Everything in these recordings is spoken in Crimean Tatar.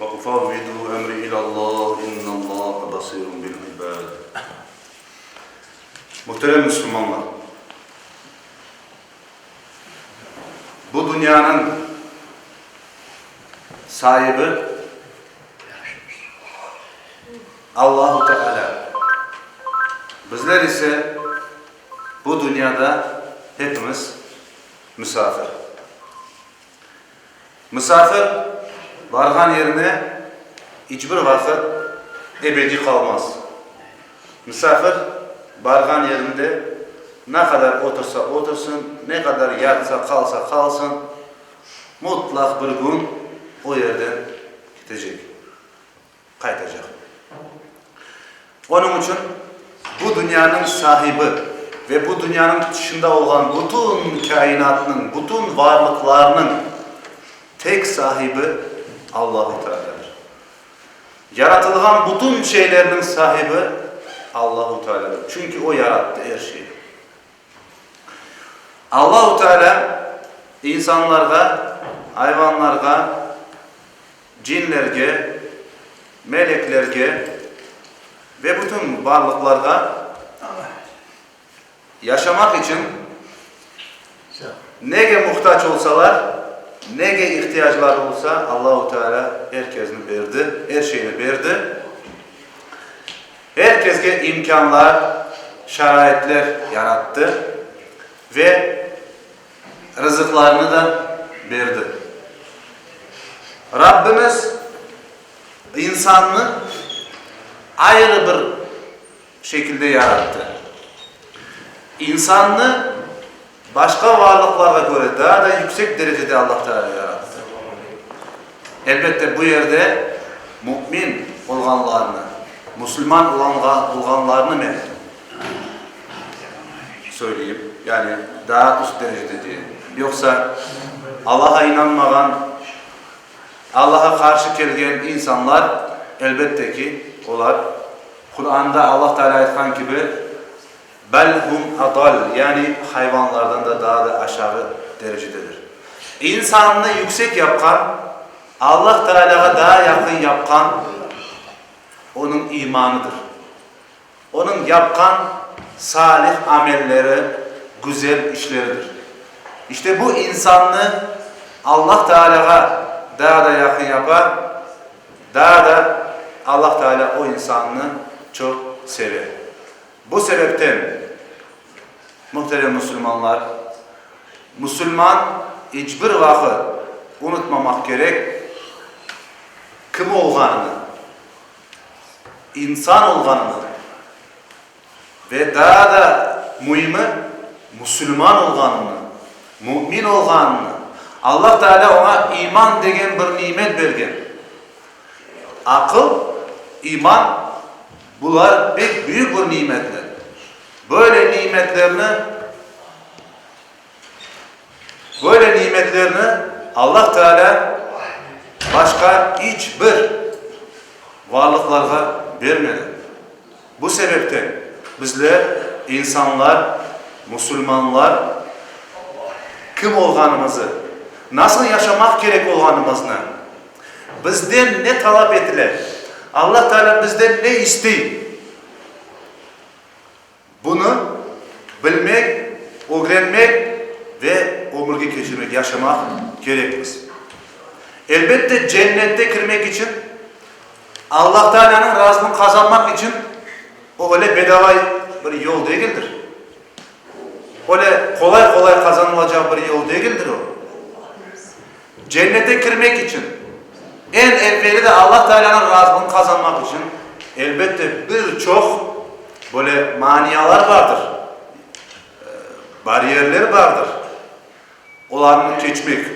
Ve ufavvidu emri ilâllah, innâllâhe basirun bil ibâd. Muhterem müslümanlar! Bu dünyanıñ saibi Allahu Teâlâ. Bizler ise bu dünyada hepimiz müsafir. Misafir barğan yerine iç bir vaqıt ebediy qalmaz. Misafir barğan yerinde ne qadar otursa otursın, ne qadar yatsa, qalsa qalsın, mutlaq bir kün o yerden ketecek. Qaytacaq. Onıñ içün bu dünyanıñ sahibi ve bu dünyanıñ tışında olğan bütün kâinatnıñ, bütün varlıqlarnıñ tek sahibi Allahu Tealâdır. Yaratılğan bütün şeylerniñ sahibi Allahu Tealâdır, çünki O yarattı er şeyni. Allahu Tealâ insanlarğa, ayvanlarğa, Cinlerge, meleklerge ve bütün barlıqlarğa yaşamaq içün nege muhtac olsalar, nege ihtiyacları olsa, Allahu Teala er kezni berdi, er şeyni berdi. Er kezge imkânlar, şaraitler yarattı ve. Rızıqlarını da berdi. Rabbimiz insannı ayrı bir şekilde yarattı. İnsannı başqa varlıqlarğa köre daa da yüksek derecede Allah Teala yarattı. Elbette, bu yerde mümin olğanlarnı, musulman olğanlarnı men. Söyleyim, yani daa üst derecede diyem. Yoqsa Allaha inanmağan, Allaha qarşı kelgen insanlar, elbette ki, olar Quranda Allah Teala aytqan kibi, Bel hum adal, yani hayvanlardan da daa da aşağı derecededir. İnsannı yüksek yapqan, Allah Tealâğa daa yaqın yapqan onıñ imanıdır. Onıñ yapqan salih amelleri güzel işleridir. İşte bu insannı Allah Taalâğa daa da yaqın yapa, daa da Allah Taalâ o insannı çoq seve. Bu sebepten, muhterem musulmanlar, musulman iç bir vaqıt unutmamaq kerek kim olğanını. İnsan olğanını ve daa da müimi musulman olğanını, mümin olğanını, Allah Teala oña iman degen bir nimet bergen. Aqıl, iman, bular pek büyük bir nimetler. Böyle nimetlerni. Böyle nimetlerni Allah Teala başqa iç bir varlıqlarğa bermedi. Bu sebepten bizler, insanlar, musulmanlar, kim olğanımızı, nasıl yaşamaq kerek olğanımıznı, bizden ne talap etile, Allah Teala bizden ne istey? Bunı bilmek, ögrenmek ve ömürge keçirmek, yaşamaq kerekmiz. Elbette, cennette kirmek içün, Alla Taalânıñ razılığını qazanmaq içün o öyle bedava bir yol degildir. Öyle qolay-qolay qazanılacaq bir yol degildir o. Cennete kirmek içün, eñ evveli de Alla Taalânıñ razılığını qazanmaq içün, elbette, bir çoq böyle manialar bardır, bariyerler bardır, olarnı keçmek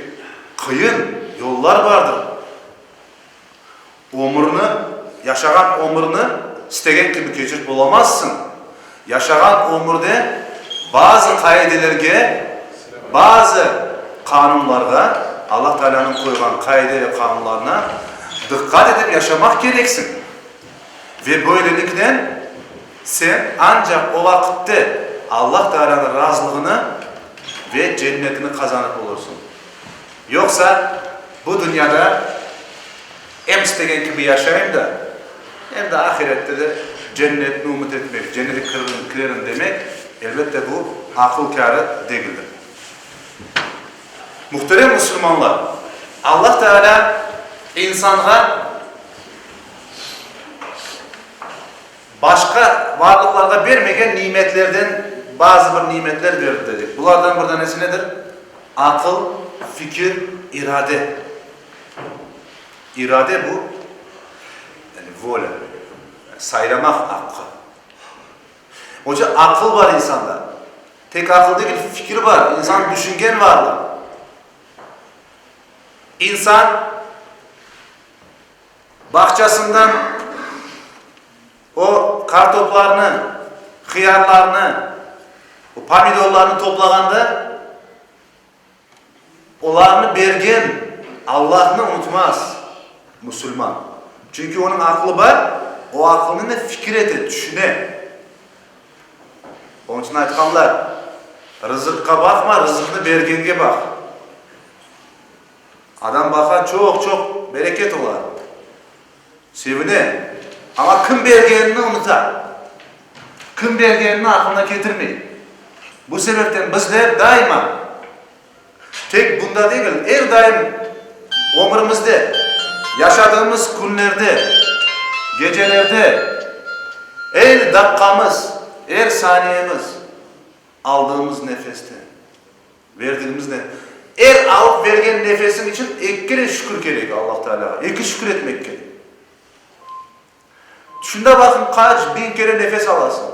qıyın, yollar bardır. Ömürni, yaşağan ömürni istegen kibi keçirip olamazsıñ. Yaşağan ömürde bazı qaidelerge, bazı qanunlarğa, Alla Taalânıñ qoyğan qaide ve qanunlarına diqqat etip yaşamaq kereksiñ. Ve böyleliknen, sen ancaq o vaqitte Alla Taalânıñ razılığını ve cennetini qazanıp olursıñ. Yoqsa, bu dünyada em istegen kibi yaşayım da, em de ahirette de cennetni ümüt etmek, cennete kirerim demek, elbette, bu aqıl kârı degildir. Muhterem musulmanlar, Allah Teala insanğa, Başqa varlıqlarğa bermegen nimetlerden bazı bir nimetler berdi, dedik. Bulardan bir danesi nedir? Aqıl, fikir, irade. İrade, bu, yani volâ, saylamaq aqqı. Onca aqıl bar insanda. Tek aqıl degil, fikir bar. İnsan düşüngen varlıq. İnsan. Bağçasından o kartoplarnı, hıyarlarnı, pomidorlarnı toplağanda, olarnı bergen Allahnı unutmaz musulman. Çünki onıñ aqlı bar, o aqılnıñnen fikir ete, tüşüne. Onıñ içün aytqanlar, Rızıqqa baqma, rızıqnı bergenge baq. Adam baqa, çoq-çoq bereket ola, sevine, amma kim bergenini unuta, kim bergenini aqılına ketirmey. Bu sebepten bizler daima, tek bunda degil, er daim ömrümizde, yaşadığımız künlerde, gecelerde, er daqqamız, er saniyemiz, aldığımız nefeste. Verdigimizde, er alıp bergen nefesiñ içün eki kere şükür kerek Allah Taalâğa, eki şükür etmek kerek. Tüşünde baqıñ, qaç biñ kere nefes alasıñ.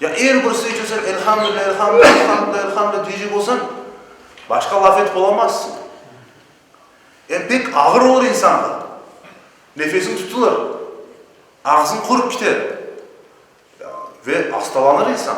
Ya er bir sıy içün sen Elhamdülilâ, Elhamdülilâ, Elhamdülilâ, Elhamdülilâ deycek olsañ, başqa laf etip olamazsıñ. Em pek ağır olur insanğa. Nefesiñ tutulır, ağzıñ qurıp kiter ve astalanır insan.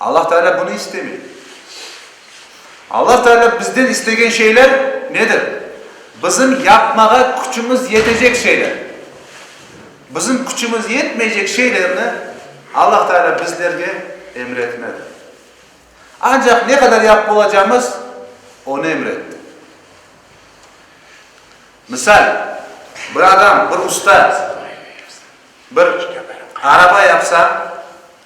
Allah Teala bunı istemey. Allah Teala bizden istegen şeyler nedir? Bizim yapmağa küçümiz yetecek şeyler. Bizim küçümiz yetmeycek şeylerni Allah Teala bizlerge emretmedi. Ancaq ne qadar yapıp olacağımız, Onı emretti. Misal, bir adam, bir ustad bir araba yapsa,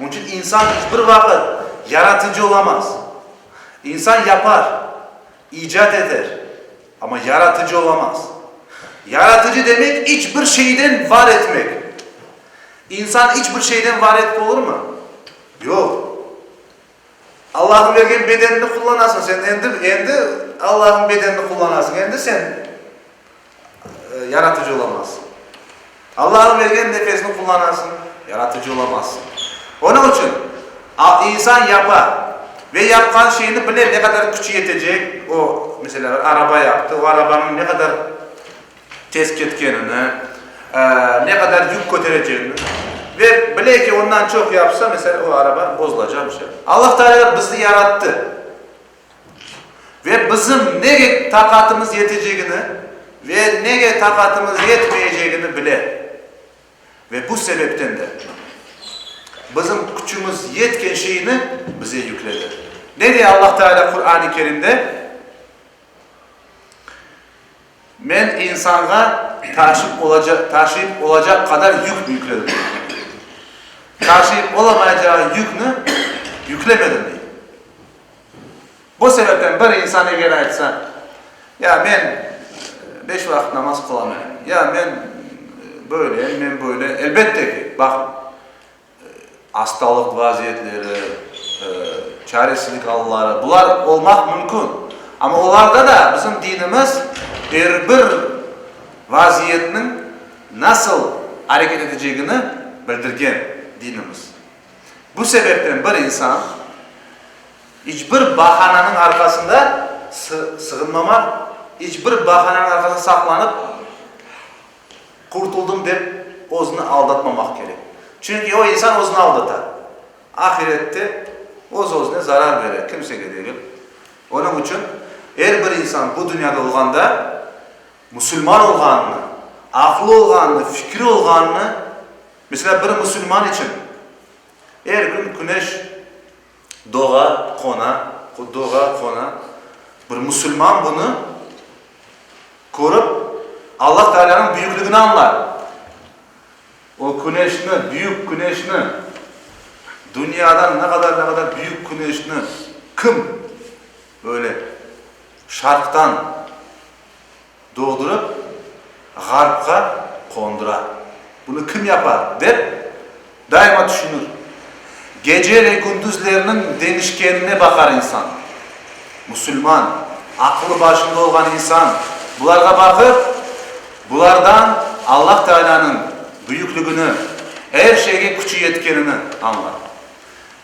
Onıñ içün insan iç bir vaqıt yaratıcı olamaz. İnsan yapar, icat eter, amma yaratıcı olamaz. Yaratıcı demek, iç bir şeyden var etmek. İnsan iç bir şeyden var etip olurmı? Yoq. Allahnıñ bergen bedenini qullanasıñ sen, endi, endi Allahnıñ bedenini qullanasıñ, endi sen Yaratıcı olamazsıñ. Allahnıñ bergen nefesini qullanasıñ, Yaratıcı olamazsıñ. Onıñ içün, insan yapa ve yapqan şeyini bile, ne qadar küçi yetecek, o, meselâ, araba yaptı, o arabanıñ ne qadar, Tez ketkenini, ne qadar yük köterecegini ve bile ki, ondan çoq yapsa, mesela, o araba bozulacaq, bir şey. Allah Teala bizni yarattı ve bizim nege taqatımız yetecegini ve nege taqatımız yetmeyecegini bile. Ve bu sebepten de bizim küçümüz yetken şeyni bize yükledi. Ne diye Allah Teala Qur'an-ı Kerimde? Men insanğa taşıp olacaq, taşıyıp olacaq qadar yük yükledim, dey. Taşıyıp olamayacağı yükni yüklemedim, dey. Bu sebepten bir insan eger aytsa, Ya, men beş vaqıt namaz qılamay, ya men böyle, men böyle, elbette ki, baqıñ, Astalıq vaziyetleri, çaresizlik alları, bular olmaq mümkün. Amma olarda da bizim dinimiz er bir vaziyetniñ nasıl areket etecegini bildirgen dinimiz. Bu sebepten bir insan iç bir bahananıñ arqasında sığınmamaq, iç bir bahananıñ arqasında saqlanıp Qurtuldım dep özüni aldatmamaq kerek. Çünki o insan özüni aldata. Ahirette öz-özüne zarar bere, kimsege degil. Onıñ içün er bir insan bu dünyada olğanda musulman olğanını, aqlı olğanını, fikri olğanını, meselâ, bir musulman içün er kün küneş, Doğa, qona, doğa, qona. Bir musulman bunı körip, Allah Taalânıñ büyükligini añlar. O küneşni, büyük küneşni, dünyadan ne qadar, ne qadar büyük küneşni kim böyle şarqtan, Doğdurıp, Ğarpqa qondura. Bunı kim yapa, dep daima tüşünir. Gece ve gündüzlerniñ deñişkenine baqar insan. Musulman, aqılı başında olğan insan bularğa baqıp, bulardan Allah Taalânıñ büyüklügini, er şeyge küçü yetkenini añlar.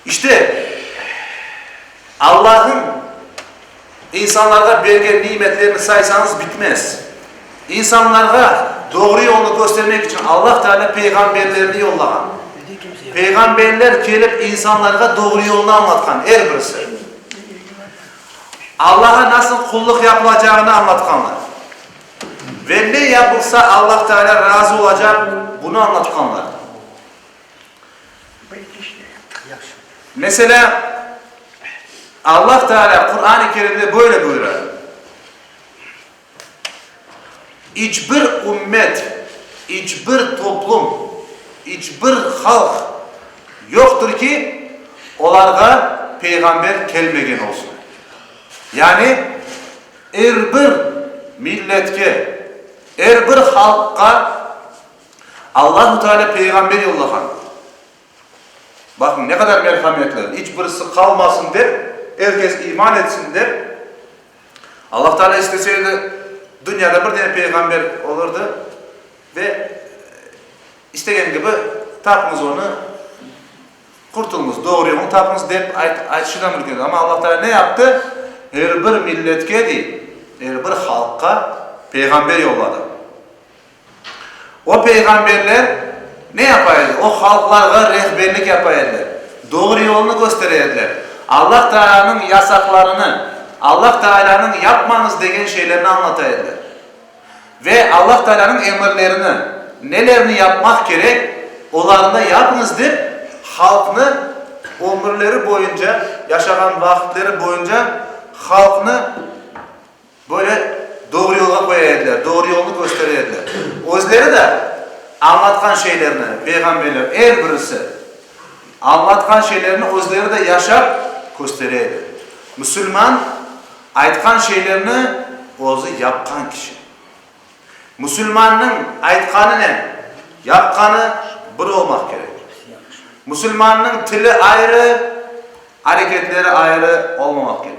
İşte, Allahnıñ. İnsanlarğa bergen nimetlerini saysañız bitmez. İnsanlarğa doğru yolnı köstermek içün Allah Teala peyğamberlerini yollağan. Peyğamberler kelip insanlarğa doğru yolnı añlatqan, er birisi. Allağa nasıl qullıq yapılacağını añlatqanlar. Ve ne yapılsa Allah Teala razı olacaq, bunı añlatqanlar. Meselâ, Allah Teâlâ Quran-ı Kerimde böyle buyura, İç bir ümmet, iç bir toplum, iç bir halq yoqtır ki, olarğa peyğamber kelmegen olsun. Yani, er bir milletke, er bir halqqa Allahu Teala peyğamber yollağan. Baqıñ, ne qadar merhametli, iç birisi qalmasın dep, er kes iman etsin dep, Allahu Teala istese edi, dünyada bir dene peyğamber olurdı ve istegen kibi tapıñız onı, qurtulñız, doğru yolnı tapıñız dep aytışı da mümkün edi. Amma Allahu Teala ne yaptı? Er bir milletke dey, er bir halqqa peyğamber yolladı. O peyğamberler ne yapa edi? O halqlarğa rehberlik yapa ediler, doğru yolnı köstere ediler. Allah Taalanıñ yasaqlarını, Allah Taalanıñ yapmañız degen şeylerni añlata ediler. Ve Allah Taalanıñ emirlerini, nelerni yapmaq kerek, olarnı yapıñız dep halqnı ömürleri boyunca, yaşağan vaqıtları boyunca halqnı, Böyle doğru yolğa qoya ediler, doğru yolnı köstere ediler. Özleri de añlatqan şeylerini, peyğamberler er birisi añlatqan şeylerini özleri de yaşap köstere edi. Müsülman, aytqan şeylerini özü yapqan kişi. Müsülmannıñ aytqanınen yapqanı bir olmaq kerek. Müsülmannıñ tili ayrı, areketleri ayrı olmamaq kerek.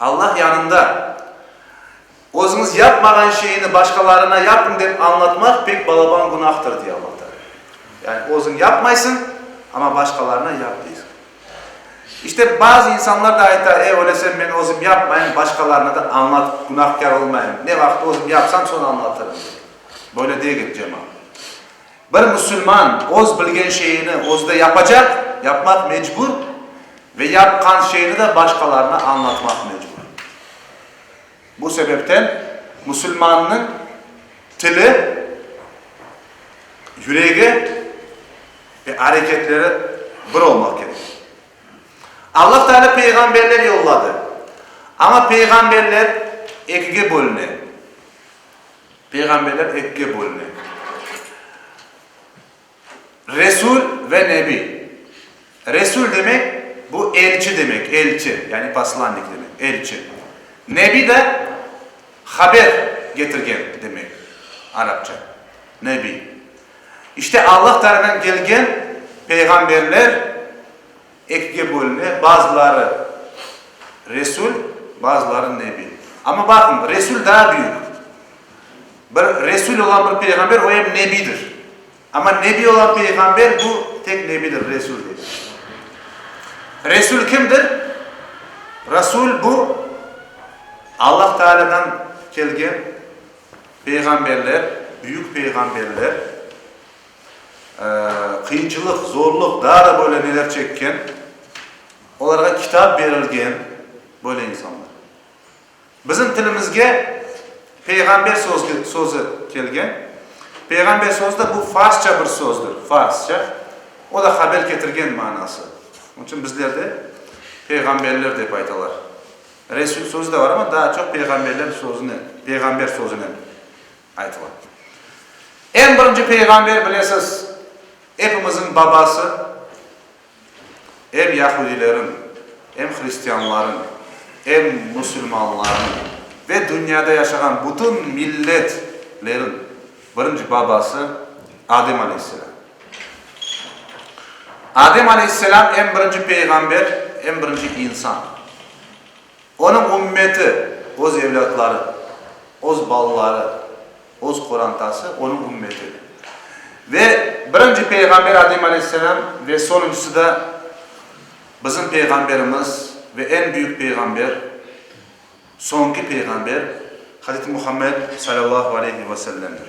Allah yanında, özüñiz yapmağan şeyni başqalarına yapıñ dep añlatmaq pek balaban günahdır, dey Allah Taalâ. Yani özüñ yapmaysıñ, amma başqalarına yap deysiñ. İşte, bazı insanlar da ayta, e, öylese men özüm yapmayım, başqalarına da añlatıp günahkâr olmayım, ne vaqıt özüm yapsam, soñ añlatırım, dey. Böyle degil, cemaat. Bir musulman öz bilgen şeyini özü de yapacaq, yapmaq mecbur ve yapqan şeyini de başqalarına añlatmaq mecbur. Bu sebepten musulmannıñ tili, yüregi ve areketleri bir olmaq kerek. Allah Teala peyğamberler yolladı, amma peyğamberler ekige bölüne. Peyğamberler ekige bölüne, Resul ve Nebi. Resul demek, bu elçi demek, elçi, yani poslannik demek, elçi. Nebi de haber getirgen demek, arapça, Nebi. İşte Allah tarafından kelgen peyğamberler. Ekge bölme, bazıları Resul, bazıları Nebi. Amma baqıñ, Resul daa büyük. Bir Resul olan bir peyğamber, o em Nebidir. Amma Nebi olan peyğamber, bu tek Nebidir, Resul degil. Resul kimdir? Resul, bu Allah Taalâdan kelgen peyğamberler, büyük peyğamberler. Qıyınçılıq, zorluq, daa da böyle neler çekken, olarğa kitap berilgen böyle insanlar. Bizim tilimizge peyğamber sözü kelgen. Peyğamber sözü de bu farsça bir sözdür, farsça. O da haber ketirgen manası. Onıñ içün bizlerde peyğamberler dep aytalar. Resul sözü de var ama, daa çoq peyğamberler sözünen, peyğamber sözünen. Aytıla. Eñ birinci peyğamber, bilesiz, epimizin babası, em yahudilerin, em hristianların, em musulmanların ve dünyada yaşağan bütün milletlerin birinci babası Adem aleyhisselam. Adem aleyhisselam, em birinci peyğamber, em birinci insan. Onıñ ümmeti, öz evlâtları, öz balaları, öz qorantası, onıñ ümmeti. Ve birinci peyğamber Adem aleyhisselam ve soñuncısı da bizim peyğamberimiz ve eñ büyük peyğamber, soñki peyğamber Hazreti Muhammed salâllahu aleyhi ve sellemdir.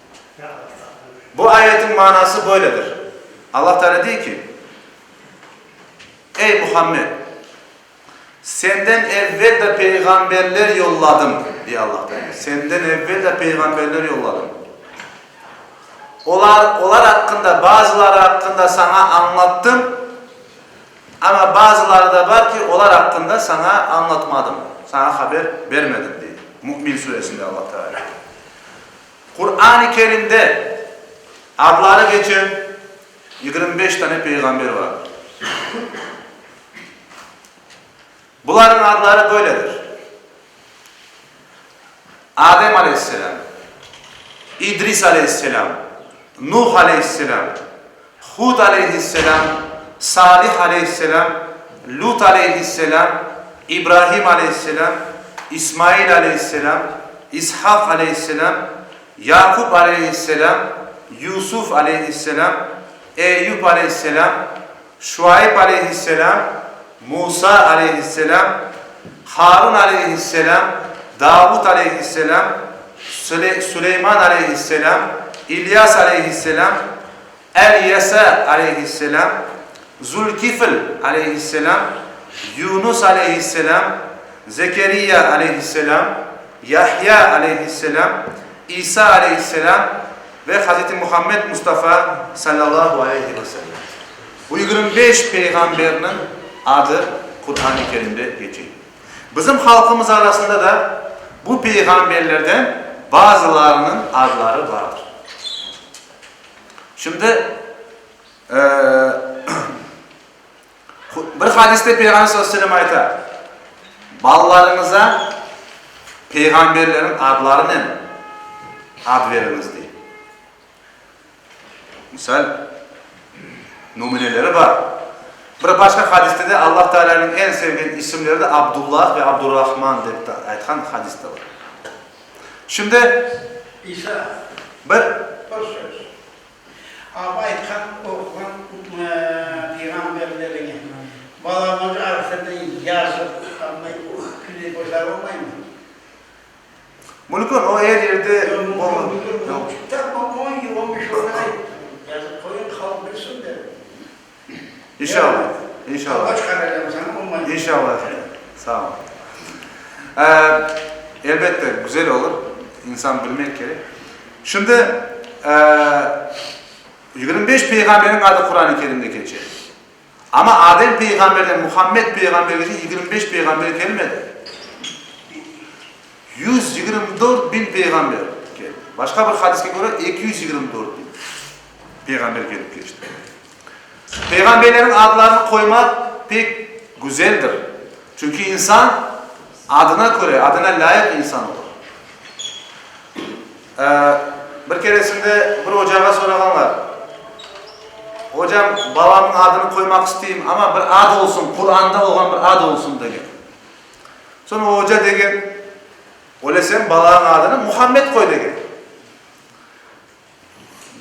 Bu ayetiñ manası böyledir, Allah Teala dey ki, Ey Muhammed! Senden evvel de peyğamberler yolladım, dey Allah Teala, senden evvel de peyğamberler yolladım. Olar, olar aqqında, bazıları aqqında saña añlattım, amma bazıları da bar ki, olar aqqında saña añlatmadım, saña haber bermedim, dey. Mü'min suresinde Allah Teala. Quran-ı Kerimde adları geçen yigirmi beş tane peyğamber vardır. Bularnıñ adları böyledir, Adem aleyhisselâm, İdris aleyhisselâm, Nuh aleyhisselâm, Hud aleyhisselâm, Salih aleyhisselâm, Lut aleyhisselâm, İbrahim aleyhisselâm, İsmail aleyhisselâm, İshak aleyhisselâm, Yaqub aleyhisselâm, Yusuf aleyhisselâm, Eyyub aleyhisselâm, Şuayb aleyhisselâm, Musa aleyhisselâm, Harun aleyhisselâm, Davut aleyhisselâm, Süleyman aleyhisselâm, İlyas aleyhisselâm, El-Yesa aleyhisselâm, Zülkifl aleyhisselâm, Yunus aleyhisselâm, Zekeriya aleyhisselâm, Yahya aleyhisselâm, İsa aleyhisselâm ve Hazreti Muhammed Mustafa sallallahu aleyhi ve sellem. Bu yigirmi beş peyğamberniñ adı Qur'an-ı Kerimde keçe. Bizim halqımız arasında da bu peyğamberlerden bazılarınıñ adları bardır. Şimdi, bir hadiste Peyğamber sallallahu aleyhi ve sellem ayta, Balalarıñıza peyğamberleriñ adlarınen ad veriñiz, dey. Misal nümüneleri bar. Bir başqa hadiste de Allah Taalâniñ eñ sevgen isimleri de Abdullah ve Abdurrahman dep aytqan hadis de bar. Şimdi bir. Bir söz. Ap aytqan oğlan peyğamberlerine balamızı arasında yazıp, anday, uh, kile, boşarılmaymı? Mülkün, o er yerde İnşallah, inşallah. İnşallah, sağ ol. Elbette, güzel olur, insan bilmek kerek. Şimdi, yigirmi beş peyğamberniñ adı Quran-ı Kerimde keçe. Amma Adem peyğamberden Muhammed peyğambergece yigirmi beş peyğamber kelmedi. Yüz yigirmi dört biñ peyğamber keldi. Başqa bir hadiske köre, eki yüz yigirmi dört biñ peyğamber kelip keçti. Peyğamberlerniñ adlarını qoymaq pek güzeldir. Çünki insan adına köre, adına lâyıq insan olur. Bir keresinde bir ocağa sorağanlar, Ocam, balamnıñ adını qoymaq isteyim, amma bir ad olsun, Quranda olğan bir ad olsun, degen. Soñ o oca degen, Öyle sen balañıñ adını Muhammed qoy, degen.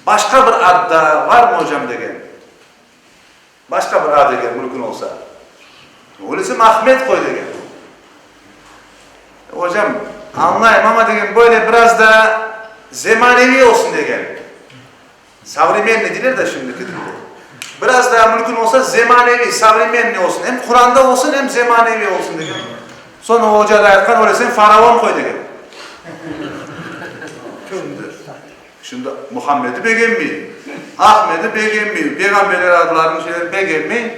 Başqa bir ad daa barmı, ocam? degen. Başqa bir ad eger mülkün olsa. Ulusim Ahmet qoy degen. Ocam, añlayım, amma degen böyle biraz da zemaneviy olsun degen. Savremenniy deyler da şimdiki tilde. Biraz da mülkün olsa zemaneviy, savremenniy olsun. Em Quran da olsun, em zemaneviy olsun degen. Soñ o oca da aytqan, öyle sen faraon qoy degen. Şimdi Muhammedi bek emmeyin, Ahmedi bek emmeyin, peyğamberler adlarını şeyleri bek emmeyin,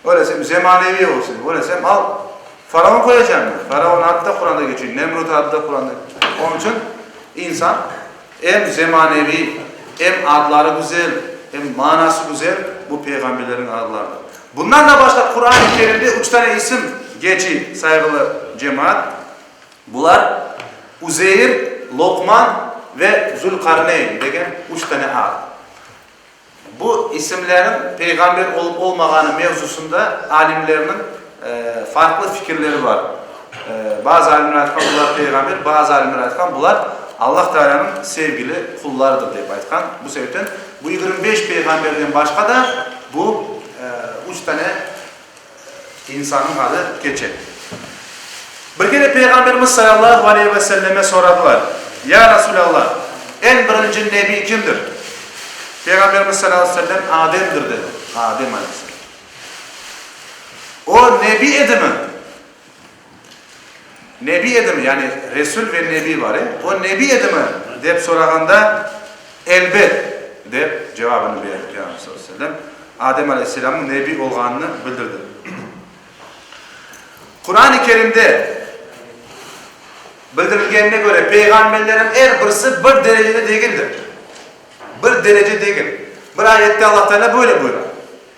öylesem zemaneviy olsun, öylesem al, faraon qoyacam mı? Faraon adı da Quranda keçiyor, Nemrut adı da Quranda keçiyor. Onıñ içün insan em zemaneviy, em adları güzel, em manası güzel bu peyğamberlerniñ adlarıdır. Bundan da başqa Quran-ı Kerimde üç tane isim keçiy, sayğılı cemaat, Bular, Uzeyir, Loqman ve Zülqarneyn degen üç tane ad. Bu isimlerniñ peyğamber olıp olmağanı mevzusında alimlerniñ farqlı fikirleri bar. Bazı alimler aytqan, bular peyğamber, bazı alimler aytqan, bular Allah Tealânıñ sevgili qullarıdır dep aytqan. Bu sebepten bu yigirmi beş peyğamberden başqa da bu üç tane. İnsannıñ adı keçe. Bir kere Peyğamberimiz salâllahu aleyhi ve selleme soradılar, Ya Rasulâllah, eñ birinci nebiy kimdir? Peyğamberimiz salâllahu aleyhi ve sellem, Ademdir, dedi. Adem aleyhisselam. O, nebiy edimi? Nebi edimi, yani Resul ve Nebi bar e, o Nebi edimi? dep sorağanda, Elbet! dep cevabını berdi Peyğamber sallallahu aleyhi ve sellem, Adem aleyhisselamnıñ Nebi olğanını bildirdi. Quran-ı Kerimde bildirilgenine köre, peyğamberlerin er birisi bir derecede degildir. Bir derece degil. Bir ayette Alla Teala böyle buyura.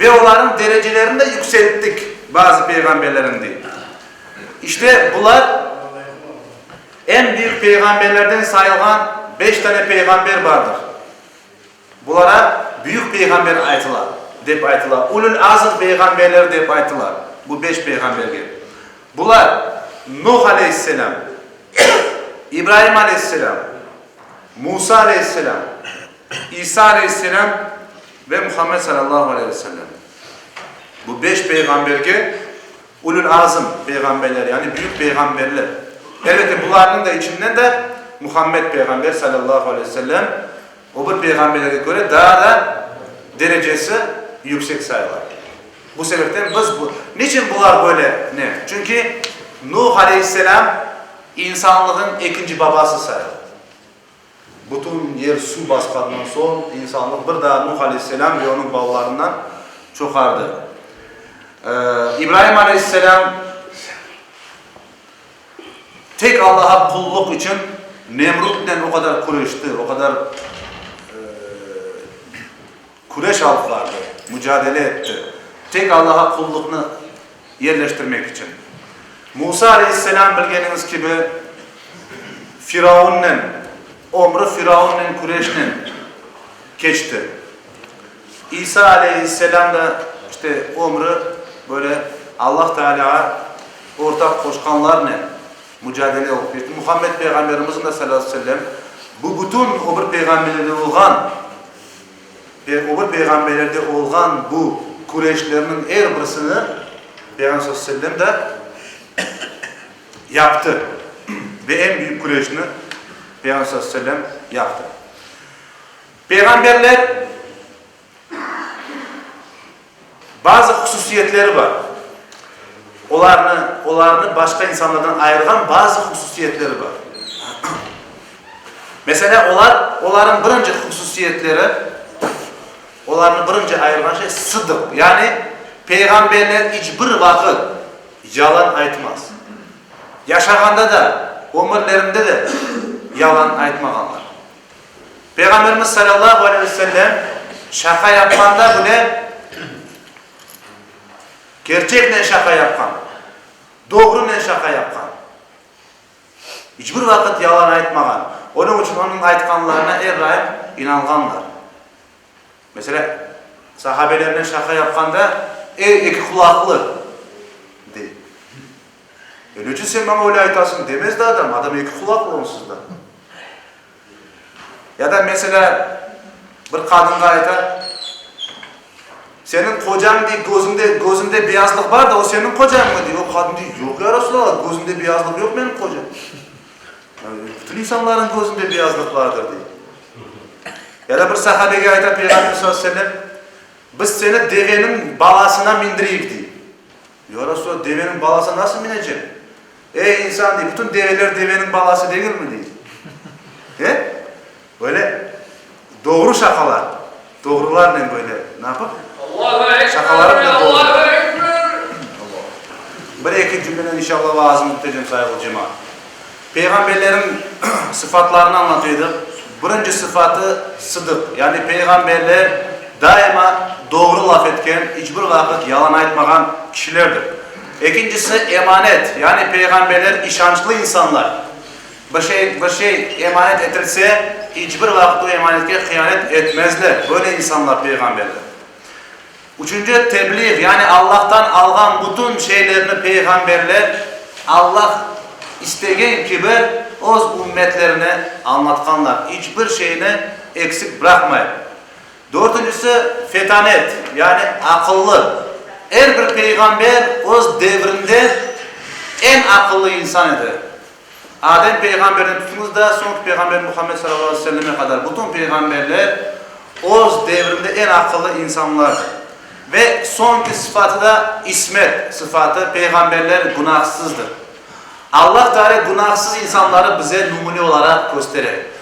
Ve olarnıñ derecelerini de yükselttik, bazı peyğamberlerniñ, dey. İşte, bular, eñ büyük peyğamberlerden sayılğan beş dane peyğamber bardır. Bulara büyük peyğamber aytıla, dep aytıla. Ulül azm peyğamberleri dep aytıla bu beş peyğamberge. Bular, Nuh aleyhisselâm, İbraim aleyhisselâm, Musa aleyhisselâm, İsa aleyhisselâm, Ve Muhammed sallallahu aleyh ve sellem. Bu beş peyğamberge Ulul azm peyğamberler, yani büyük peyğamberler. Elbette bularnıñ da içinden de Muhammed peyğamber sallallahu aleyh ve sellem o bir peyğamberlerge köre daa da derecesi yüksek sayıla. Bu sebepten biz bu, niçin bular böyle? Ne? Çünki Nuh aleyhisselam insanlığın ekinci babası sayıla. Bütün yer suv basqandan soñ, insanlıq bir daa Nuh aleyhisselâm ve onıñ balalarına çoqardı. İbraim aleyhisselâm tek Allağa qulluq içün Nemrutnen o qadar küreşti, o qadar Küreş alıp bardı, mücadele etti, tek Allağa qulluqnı yerleştirmek içün. Musa aleyhisselâm, bilgeniñiz kibi, firavunnen, ömrü firavunnen küreşnen keçti. İsa aleyhisselâm da, işte, ömrü böyle Allah Tealâğa ortaq qoşqanlarnen mücadele olıp keçti. Muhammed peyğamberimizniñ de, salâlâhu aleyhi ve sellem, bu bütün ömür peyğamberliği olğan. Ve ögür peyğamberlerde olğan bu küreşlerniñ er birisini Peyğamber sallallahu aleyhi ve sellem de yaptı. Ve eñ büyük küreşni Peyğamber sallallahu aleyhi ve sellem yaptı. Peyğamberler. Bazı hususiyetleri bar. Olarnı, olarnı başqa insanlardan ayırğan bazı hususiyetleri bar. Meselâ, olar, olarnıñ birinci hususiyetleri, olarnı birinci ayırğan şey, sıdıq. Yani, peyğamberler iç bir vaqıt yalan aytmaz. Yaşağanda da, ömürlerinde de yalan aytmağanlar. Peyğamberimiz salâllahu aleyh ve sellem şaqa yapqanda bile kerçeknen şaqa yapqan, doğrunen şaqa yapqan. İç bir vaqıt yalan aytmağan. Onıñ içün onıñ aytqanlarına er daim inanğanlar. Meselâ, sahabelernen şaqa yapqanda, Ey, eki qulaqlı! dey. E, neçün sen maña öyle aytasıñ, demez de adam, adam eki qulaqlı onsuz da. Ya da, meselâ, bir qadınğa ayta, Seniñ qocañ, dey, gözünde, gözünde beyazlıq bar da, o seniñ qocañmı, dey. O qadın dey, Yoq, ya Rasulalla, gözümde beyazlıq yoq, menim qocam. Bütün insanların közünde beyazlıq vardır, dey. Ele bir sahabege ayta Peyğamber sallallahu aleyhi ve sellem, Biz seni deveniñ balasına mindireyik, dey. Ya Resulallah, deveniñ balasına nasıl minecem? Ey insan, dey, bütün develer deveniñ balası degilmi, dey. E? Böyle doğru şaqalar, doğrularnen böyle napıp, şaqalarınen doldur. Bir-eki cümlenen inşalla vaazım bitecek, qayırlı cemaat. Peyğamberleriñ sıfatlarını añlatı edik. Birinci sıfatı, sıdıq. Yani peyğamberler daima doğru laf etken, iç bir vaqıt yalan aytmağan kişilerdir. Ekincisi, emanet. Yani peyğamberler işançlı insanlar. Bir şey, bir şey emanet etilse, iç bir vaqıt o emanetke hıyanet etmezler, böyle insanlar peyğamberdir. Üçünci, tebliğ, yani Allah'tan alğan bütün şeylerni peyğamberler Allah istegen kibi öz ümmetlerine añlatqanlar, iç bir şeyni eksik bıraqmayıp. Dörtüncisi, fetanet, yani aqıllı, er bir peyğamber öz devrinde eñ aqıllı insan edi, Adem peyğamberden tutunıñ da soñki peyğamber Muhammed sallallahu aleyhi ve selleme qadar bütün peyğamberler öz devrinde eñ aqıllı insanlardır. Ve soñki sıfatı da ismet sıfatı, peyğamberler günahsızdır. Allah Teala günahsız insanları bize numune olaraq köstere.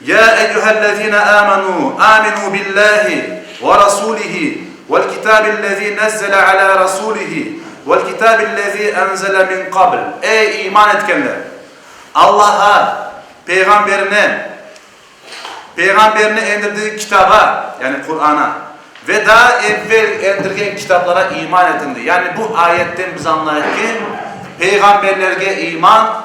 Ya eyyuhellezine amenu, aminu billahi ve rasulihi vel kitabillezî nezzele alâ rasulihi vel kitabillezî enzele min qabl. Ey, iman etkenler! Allaha, Peyğamberine, Peyğamberini endirdiği Kitaba, yani Qur'ana, ve daa evvel endirilgen kitaplara iman etiñ, dey. Yani bu ayetten biz añlayıq ki, peyğamberlerge iman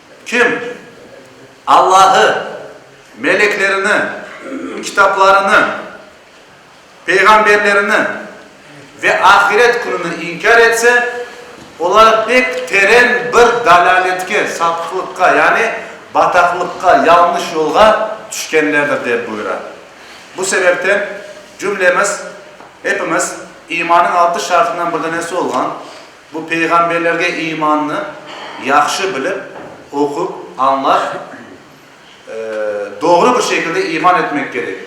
Kim? Allahı, meleklerini, kitaplarını, peyğamberlerini ve ahiret kününi inkâr etse, olar pek teren bir dalâletke, sapıqlıqqa, yani bataqlıqqa, yalnış yolğa tüşkenlerdir, dep buyura. Bu sebepten cümlemiz, epimiz, imanıñ altı şartından bir danesi olğan, Bu peyğamberlerge imannı yahşı bilip, oqup, añlap, doğru bir şekilde iman etmek kerek.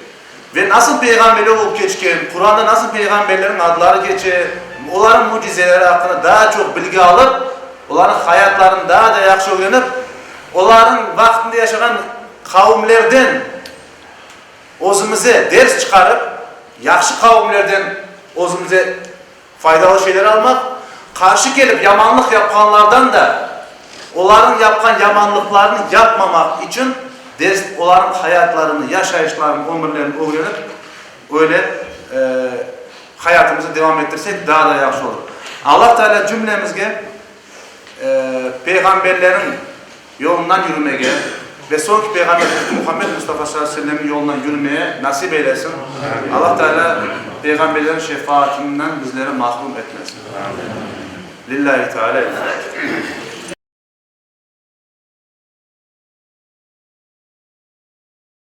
Ve nasıl peyğamberler olıp keçken, Quranda nasıl peyğamberlerniñ adları keçe, olarnıñ mücizeleri aqqında daa çoq bilgi alıp, olarnıñ hayatlarını daa da yahşı ögrenip, olarnıñ vaqtında yaşağan qavimlerden özümize ders çıqarıp, yahşı qavimlerden özümize Faydalı şeyler almaq, qarşı kelip yamanlıq yapqanlardan da olarnıñ yapqan yamanlıqlarını yapmamaq içün ders, olarnıñ hayatlarını, yaşayışlarını, ömürlerini ögrenip, öyle hayatımızı devam ettirsek daa da yahşı olur. Allah Taalâ cümlemizge Peyğamberleriñ. yolundan yürümege ve soñki Peyğamberimiz Muhammed Mustafa sallallahu aleyhi ve sellemniñ yolundan yürümege nasip eylesin, Alla Teala peyğamberlerniñ şefaatinden bizleri mahrum etmesin. Lillâhi Teâlâ El Fâtiha.